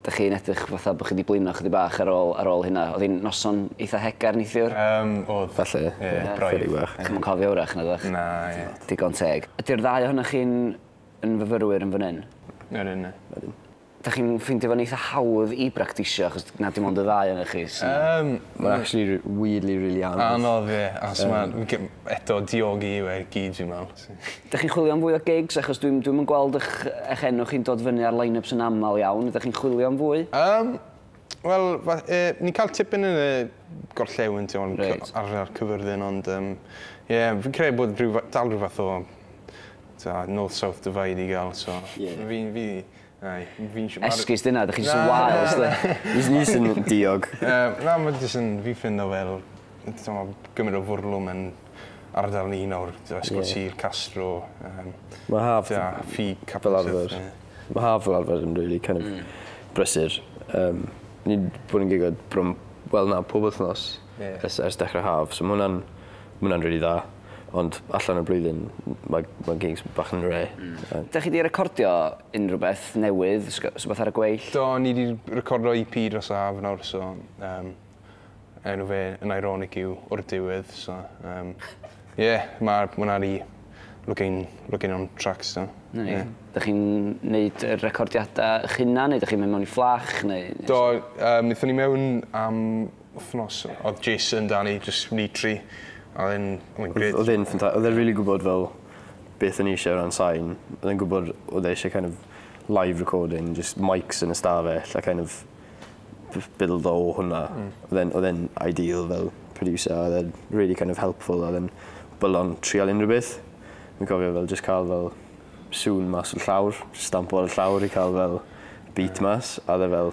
Dach chi'n edrych fatha bod chi 'di blino chydig bach ar ôl ar ôl hynna. Oedd hi'n noson eitha hegar neithiwr? Yym oedd. Falle. Ie braidd. Chydig bach. Chi'm yn cofio 'w'rach nagoch? Na ie. Digon teg. Ydi'r ddau ohonoch chi'n yn fyfyrwyr yn fan 'yn? Ydyn. Ydyn. Dach chi'n ffeindio fo'n eitha hawdd i bractisio achos na dim ond y ddau ohonoch chi sy... Yym. Ma'n actually r- weirdly rili anodd. Anodd ie achos ma' eto diogi yw e i gyd fi'n me'wl. Dych chi'n chwilio am fwy o gigs? Achos dwi'm dwi'm yn gweld ych ych enw chi'n dod fyny ar line-ups yn aml iawn. Ydych chi'n chwilio am fwy? Yym, wel, fa- yy, ni'n cael tipyn yn y gorllewin, ti'n gwbod, Reit. cy- ar ar Cyfyrddin, ond yym, ie, fi'n credu bod rhyw fa- dal rhyw fath o, t'mo', north-south divide i gael, so... Ie. ...fi'n fi Ai, fi'n siw- ma'r... Esgus dyna, dych chi jyst yn wael os dych chi. Jyst jyst yn diog. Yy na ma' jyst yn fi'n ffindo fel t'mod gymint o fwrlwm yn ardal ni nawr t'o' Ysgol Sul, Castro yym... Ma' haf... ...t'o' ffi capel fel arfer. Ma' haf fel arfer yn rili kin' of brysur yym ni 'di bod yn gigo bron wel na pob wthnos... Ie. ...ers ers dechre haf so ma' wnna'n ma' wnna'n rili dda. Ond allan y blwyddyn mae mae gigs bach yn rare. Hmm. Dach chi 'di recordio unrhyw beth newydd, rhywbeth ar y gweill? Do, ni 'di recordio EP dros yr haf nawr so um, enw fe yn ironic yw o'r diwedd so um, yeah, mae hwnna di looking, looking on tracks do. Ie. Yeah. Dych chi'n neud y recordiadau eich hunan neu dych chi'n mynd mewn i fflach neu... Do, um, nethon ni mewn am wthnos odd Jason da ni jyst ni tri a odd e'n odd e'n grêt. Odd e'n ffynta- odd e'n rili gwbod fel beth o'n i isie o ran sain odd e'n gwbod odd e isie kind of live recording jyst mics yn y stafell a kind of jys bildo o hwnna. Hmm. Odd e'n odd e'n ideal fel producer odd e'n rili kind of helpful odd e'n bwlo'n trial unryw beth. Fi'n cofio fel jyst ca'l fel sŵn mas o'r llawr stampo ar y llawr i ca'l fel beat mas a odd e fel